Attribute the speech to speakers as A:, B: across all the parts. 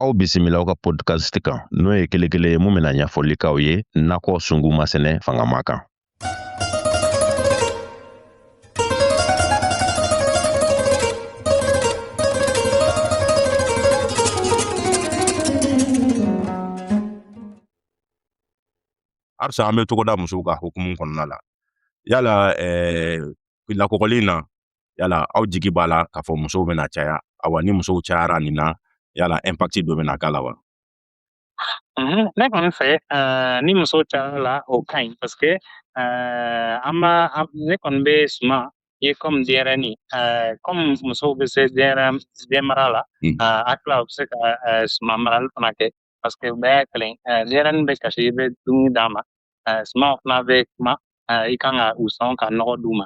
A: aw bisimila aw ka podcast kan n'o ye kele kelen ye min bɛna ɲɛfɔli k'aw ye nakɔ sunguma sɛnɛ fangama kan halisa an bɛ togoda musow ka hukumu kɔnɔna la yala eh, lakɔkɔli in na yala aw jigi b'a la k'a fɔ musow bɛna caya awa ni musow cayara nin na yala impact dɔ bɛna k'a la wa mhm, ne kɔni fɛ eh, ni muso cayara la o ka ɲi parce que eh, an b'a ne kɔni bɛ suman ye kɔmi denyɛrɛni kɔmi eh, musow bɛ se denyɛrɛ denmara la mm. a tila u bɛ se ka suman marali fana kɛ parce que u bɛɛ y'a kelen denyɛrɛni bɛ kasi i bɛ dumuni d'a ma suman fana bɛ kuma i kan ka u sɔn ka nɔgɔ d'u ma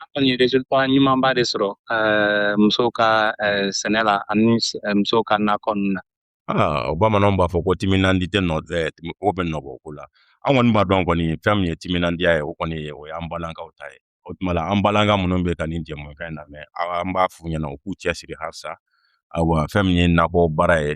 A: an kɔni ye resultat ɲumanba de sɔrɔ eh, musow ka eh, sɛnɛ la ani eh, musow ka nakɔ ninnu na ah, o bamananw b'a fɔ ko timinandi tɛ nɔ o bɛ nɔ bɔ ko la an kɔni b'a dɔn kɔni fɛn min ye timinandiya ye o kɔni ye o y'an balakaw ta ye o tuma la an balaka minnu bɛ ka nin jɛmukan in lamɛn an b'a f'u ɲɛna u k'u cɛsiri halisa awa fɛn min ye nakɔ baara ye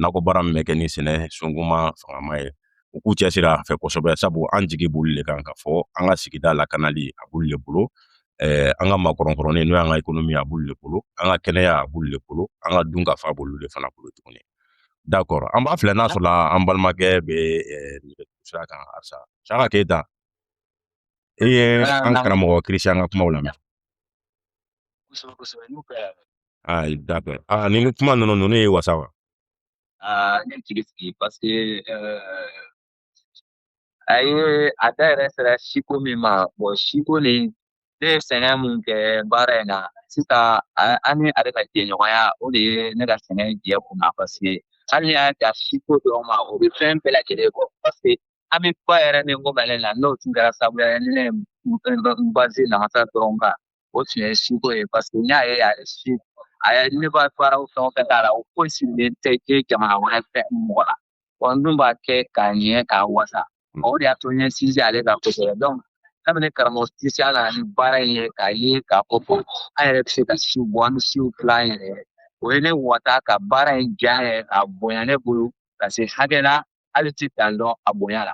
A: nakɔ baara min bɛ kɛ ni sɛnɛ sunkuma fangama ye u k'u cɛsiri a fɛ kosɛbɛ sabu an jigi b'olu le kan k'a fɔ an ka sigida lakanali a b'olu le bolo eh, an ka makɔrɔnkɔrɔnin n'o y'an ka ekonomi a b'olu le bolo an ka kɛnɛya a b'olu le bolo an ka dunkafa b'olu le fana bolo tuguni d'accord an b'a filɛ n'a sɔrɔla an balimakɛ bɛ eh, sira kan halisa siaka keyita i ye an karamɔgɔ kirisiyan ka kumaw lamɛn kosɛbɛ kosɛbɛ n'u kɛra aa d'accord aa ni kuma ninnu ninnu y'i wasa wa aa ne jigi sigi parce que a ye a da yɛrɛ sera siko min ma bon siko ni ne ye sɛgɛn min kɛ baara in na sisan an ni ale ka jɛɲɔgɔnya o de ye ne ka sɛgɛn jɛ kun na parce que hali n'i y'a da siko dɔw ma o bɛ fɛn bɛɛ lajɛlen bɔ parce que an bɛ ba yɛrɛ min ko mɛlɛ la n'o tun kɛra sababu ye ne ye n base namasa dɔrɔn kan o tun ye siko ye parce que n y'a ye a ye si a ye ne b'a baara o fɛn o fɛn k'a la o foyi sirilen tɛ kɛ jamana wɛrɛ fɛ mɔgɔ la wa n dun b'a kɛ k'a ɲɛ k'a wasa mm. o de y'a to n ye sinsin ale kan kosɛbɛ donc kabini karamɔgɔ kirisiyan nana ni baara in ye k'a ye k'a fɔ ko an yɛrɛ bɛ se ka siw bɔ an bɛ siw dilan an yɛrɛ ye o ye ne wasa ka baara in diya n yɛrɛ k'a bonya ne bolo ka se hakɛ la hali t'a dan dɔn a bonya la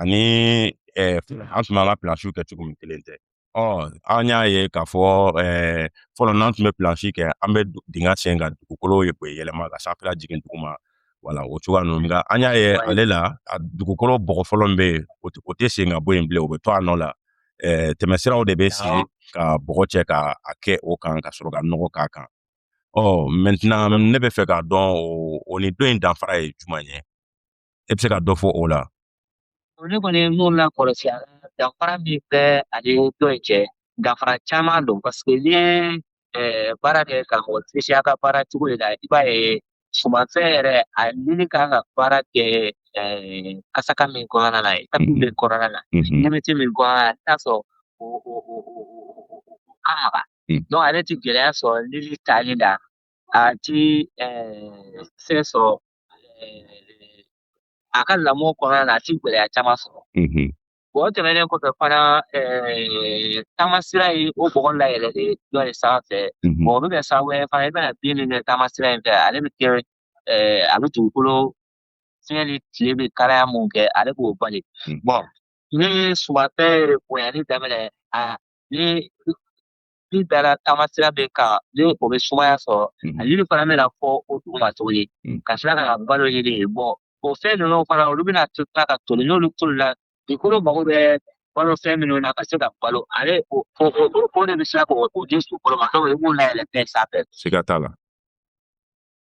A: ani an tun b'an ka pilansiw kɛ cogo min kelen tɛ ɔ an y'a ye k'a fɔ fɔlɔ n'an tun bɛ pilansi kɛ an bɛ dingɛ sen ka dugukolo yɛlɛma ka sanfɛla jigin duguma wala o cogoya ninnu nka an y'a ye ale la a dugukolo bɔgɔ fɔlɔ min bɛ yen o tɛ sen ka bɔ yen bilen o bɛ to a nɔ la tɛmɛsiraw de bɛ sigi ka bɔgɔ cɛ ka a kɛ o kan ka sɔrɔ ka nɔgɔ k'a kan ɔ mɛtɛnɛn ne b'a fɛ k'a dɔn o ni dɔ in danfara ye jumɛn ye e bɛ se ka dɔ fɔ o la ne kɔni ye min lakɔlɔsi danfara min bɛ a ni dɔ in cɛ danfara caman don paseke n'i ye baara kɛ karamɔgɔ Christian ka baara cogo de la i b'a ye sumanfɛn yɛrɛ a nili kan ka baara kɛ kasaka min kɔnɔna la etapi min kɔnɔna la ɲɛmɛti min kɔnɔna la i t'a sɔrɔ o o o o ka maga donc ale ti gɛlɛya sɔrɔ nili tali la a ti fɛn sɔrɔ a ka lamɔ kɔnɔna na a ti gɛlɛya caman sɔrɔ o tɛmɛnen kɔfɛ fana taamasira ye o bɔgɔ layɛlɛ de dɔ de sanfɛ o bɛ kɛ sababu ye fana i bɛna bin min kɛ taamasira in fɛ ale bɛ kɛ a bɛ dugukolo fiɲɛ ni tile bɛ kalaya min kɛ ale b'o bali ni sumanfɛn bonyali daminɛ a ni Ni dara taamasira bɛ kan ni o bɛ sumaya sɔrɔ a lili fana bɛna fɔ o duguma tuguni ka sira ka balo yiri ye bɔ o fɛn ninnu fana olu bɛna to ka toli n'olu tolila dugukolo mago bɛ balo fɛn minnu na ka se ka balo ale o o de bɛ se ka o di sukɔrɔ ma dɔw i b'o layɛlɛn fɛn sanfɛ siga t'a la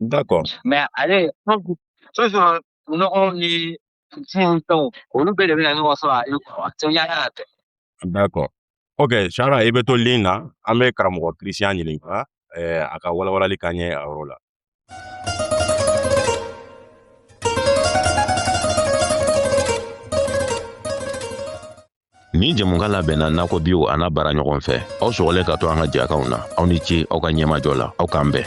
A: D'accord. Mais ale toujours nɔgɔ ni fɛnw fɛnw olu bɛɛ de bɛna ɲɔgɔn sɔrɔ ale kɔrɔ a tɛ ɲa y'a tɛ. D'accord. Ok, Sara, i bɛ to ligne na, an bɛ karamɔgɔ Christian ɲininka eh, a ka walawalali k'an ye a yɔrɔ la. Nin jɛmukan labɛnna nakɔ biw an'a baaraɲɔgɔn fɛ aw sɔgɔlen ka to an ka jɛkanw na aw ni ce aw ka ɲɛmajɔ la aw k'an bɛn